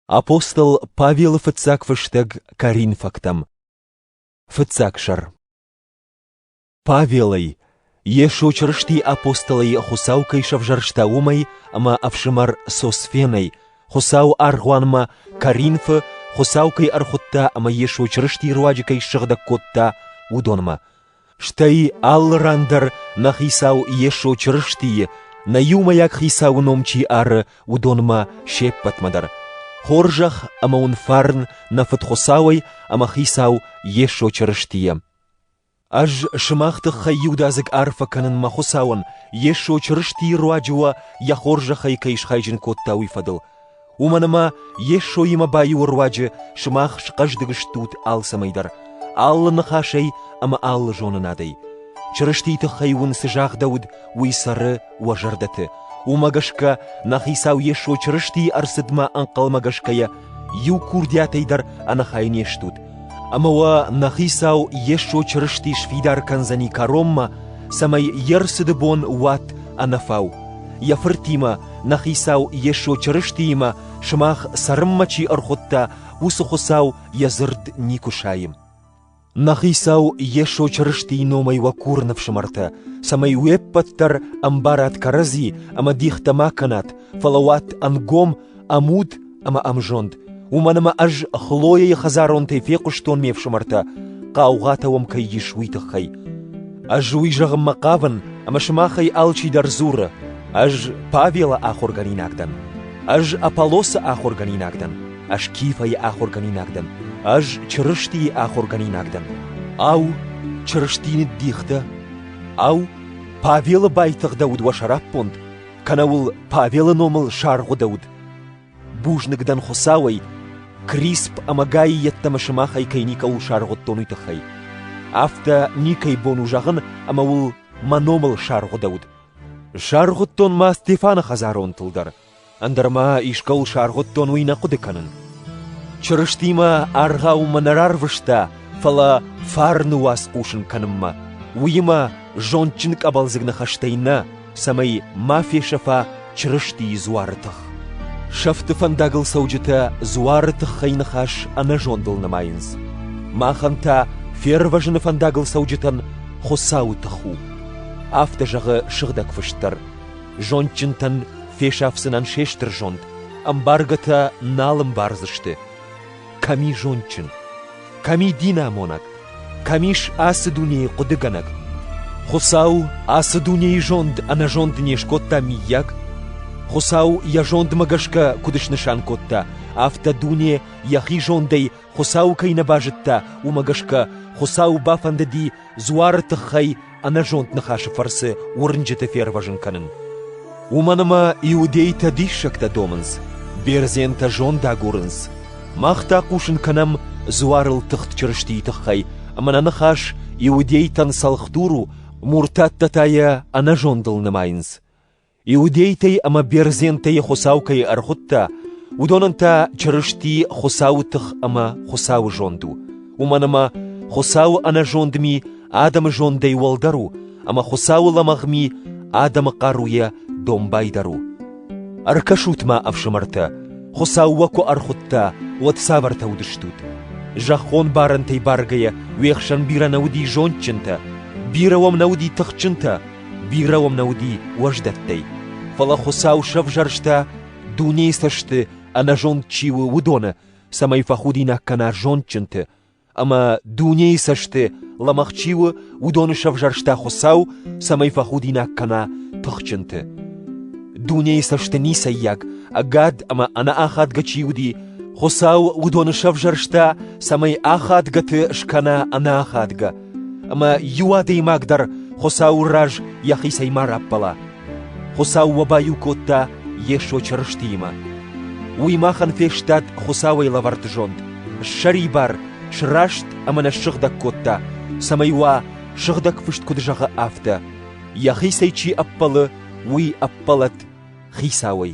Апостол Павелы фыццаг фыстӕг коринфӕгтӕм. Фыццаг сӕр. Павелӕй, Йесо Чырысти апостолӕй Хуыцау кӕй сӕвзӕрста уымӕй ӕмӕ ӕфсымӕр Сосфенӕй, Хуыцау аргъуанмӕ Коринфы Хуыцау кӕй ӕрхуыдта ӕмӕ Йесо Чырысти руаджы кӕй ссыгъдӕг кодта, уыдонмӕ. Стӕй алы ран дӕр нӕ Хицау Йесо Чырыстийы, нӕ иумӕйаг Хицауы ном чи ары, уыдонмӕ се ппӕтмӕ дӕр: хорзӕх ӕмӕ уын фарн нӕ Фыд Хуыцауӕй ӕмӕ Хицау Йесо Чырыстийӕ! Ӕз сымах тыххӕй иудадзыг арфӕ кӕнын мӕ Хуыцауӕн, Йесо Чырыстийы руаджы уӕ йӕ хорзӕхӕй кӕй схайджын кодта, уый фӕдыл. Уымӕн ӕмӕ Йесоимӕ баиуы руаджы сымах схъӕздыг стут алцӕмӕйдӕр алы ныхасӕй ӕмӕ алы зонынадӕй. Чырыстийы тыххӕй уын цы загъдӕуыд, уый цӕры уӕ зӕрдӕты. Уымӕ гӕсгӕ нӕ Хицау Йесо Чырыстийы ӕрцыдмӕ ӕнхъӕлмӕ гӕсгӕ йӕ иу курдиатӕй дӕр ӕнӕхай не стут, Ӕмӕ уӕ нӕ хицау Йесо Чырысти сфидар кӕндзӕни кӕронмӕ, цӕмӕй йе рцыды бон уат ӕнӕфау, йӕ фыртимӕ, нӕ хицау Йесо Чырыстиимӕ сымах цӕрынмӕ чи ӕрхуыдта, уыцы Хуыцау йӕ дзырд никуы сайы. Нӕ хицау Йесо Чырыстийы номӕй уӕ курын, ӕфсымӕртӕ, цӕмӕй уе ппӕт дӕр ӕмбарат кӕрӕдзи ӕмӕ дихтӕ ма кӕнат, фӕлӕ уат ӕнгом ӕмуд ӕмӕ ӕмзонд, уымӕн ӕмӕ ӕз Хлояйы хӕдзаронтӕй фехъуыстон ме фсымӕртӕ, хъаугъатӕ уӕм кӕй ис, уый тыххӕй. Ӕз уый зӕгъынмӕ хъавын, ӕмӕ сымахӕй алчидӕр дзуры, ӕз Павелы ахуыргӕнинаг дӕн, ӕз Аполлосы ахуыргӕнинаг дӕн, ӕз Кифӕйы ахуыргӕнинаг дӕн, ӕз Чырыстийы ахуыргӕнинаг дӕн. Ау, Чырысти ныддих дӕ? Ау, Павелы байтыгъдӕуыд уӕ сӕраппонд? кӕнӕ уыл Павелы номыл саргъуыдӕуд. Бузныг дӕн Хуыцауӕй, Крисп ӕмӕ Гайы йеддӕмӕ сымахӕй кӕй никӕуыл саргъуыдтон, уый тыххӕй. Афтӕ никӕй бон у зӕгъын, ӕмӕ уыл мӕ номыл саргъуыдӕуд. Саргъуыдтон ма Стефаны хӕдзаронтыл дӕр, ӕндӕр ма искӕуыл саргъуыдтон уый нӕ хъуыды кӕнын. Чырыстимӕ аргъау мӕ нӕ рарвыста, фӕлӕ фарны уац хъусын кӕнынмӕ, уыимӕ зондджын къӕбӕлдзыг ныхӕстӕй нӕ, цӕмӕй ма фесӕфа Чырыстийы дзуары тых. Сӕфты фӕндагыл цӕуджытӕ дзуары тыххӕй ныхас ӕнӕзондыл нымайынц. Махӕн та фервӕзыны фӕндагыл цӕуджытӕн Хуыцауы тых у. Афтӕ зӕгъы сыгъдӕг фыст дӕр. Зондджынтӕн фесафдзынӕн се стыр зонд, ӕмбаргӕтӕ нал ӕмбардзысты. кӕми зондджын, кӕми динамонӕг, кӕмис ацы дунейы хъуыдыгӕнӕг. Хуыцау ацы дунейы зонд ӕнӕзонд не скодта миййаг? Хуыцау йӕ зондмӕ гӕсгӕ куыд снысан кодта, афтӕ дуне йӕхи зондӕй Хуыцау кӕй нӕ базыдта, уымӕ гӕсгӕ Хуыцау бафӕндыди дзуары тыххӕй ӕнӕзонд ныхасы фӕрцы уырнджыты фервӕзын кӕнын. Уымӕн ӕмӕ иудейтӕ диссӕгтӕ домынц, бердзентӕ зонд агурынц. Мах та хъусын кӕнӕм дзуарыл тыхт Чырыстийы тыххӕй, ӕмӕ нӕ ныхас иудейтӕн цӕлхдур у, муртаттӕ та йӕ ӕнӕзондыл нымайынц. Иудейтӕй ӕмӕ бердзентӕй Хуыцау кӕй ӕрхуыдта, уыдонӕн та Чырысти Хуыцауы тых ӕмӕ Хуыцауы зонд у, уымӕн ӕмӕ Хуыцауы ӕнӕзонд ми адӕмы зондӕй уӕлдӕр у, ӕмӕ Хуыцауы лӕмӕгъ ми адӕмы хъаруйӕ домбайдӕр у. Ӕркӕсут-ма, ӕфсымӕртӕ, Хуыцау уӕ куы ӕрхуыдта, уӕд цавӕртӕ уыдыстут? Зӕххон барӕнтӕй бӕргӕйӕ уе хсӕн бирӕ нӕ уыди зондджынтӕ, бирӕ уӕм нӕ уыди тыхджынтӕ, Бирӕ уӕм нӕ уыди уӕздӕттӕй, фӕлӕ Хуыцау сӕвзӕрста, дунейы цӕсты ӕнӕзонд чи у, уыдоны, цӕмӕй фӕхудинаг кӕна зондджынты, ӕмӕ дунейы цӕсты лӕмӕгъ чи у, уыдоны сӕвзӕрста Хуыцау, цӕмӕй фӕхудинаг кӕна тыхджынты. Дунейы цӕсты ницӕййаг, ӕгад ӕмӕ ӕнӕахадгӕ чи уыди, Хуыцау уыдоны сӕвзӕрста, цӕмӕй ахадгӕты скӕна ӕнӕахадгӕ, Ӕмӕ иу адӕймаг дӕр Хуыцауы раз йӕхицӕй ма раппӕла. Хуыцау уӕ баиу кодта Йесо Чырыстиимӕ. Уый махӕн фестад Хуыцауӕй лӕвӕрд зонд, ссӕрибар, сраст ӕмӕ нӕ ссыгъдӕг кодта, цӕмӕй уа, Сыгъдӕг Фыст куыд зӕгъы, афтӕ: «Йӕхицӕй чи ӕппӕлы, уый ӕппӕлӕд Хицауӕй».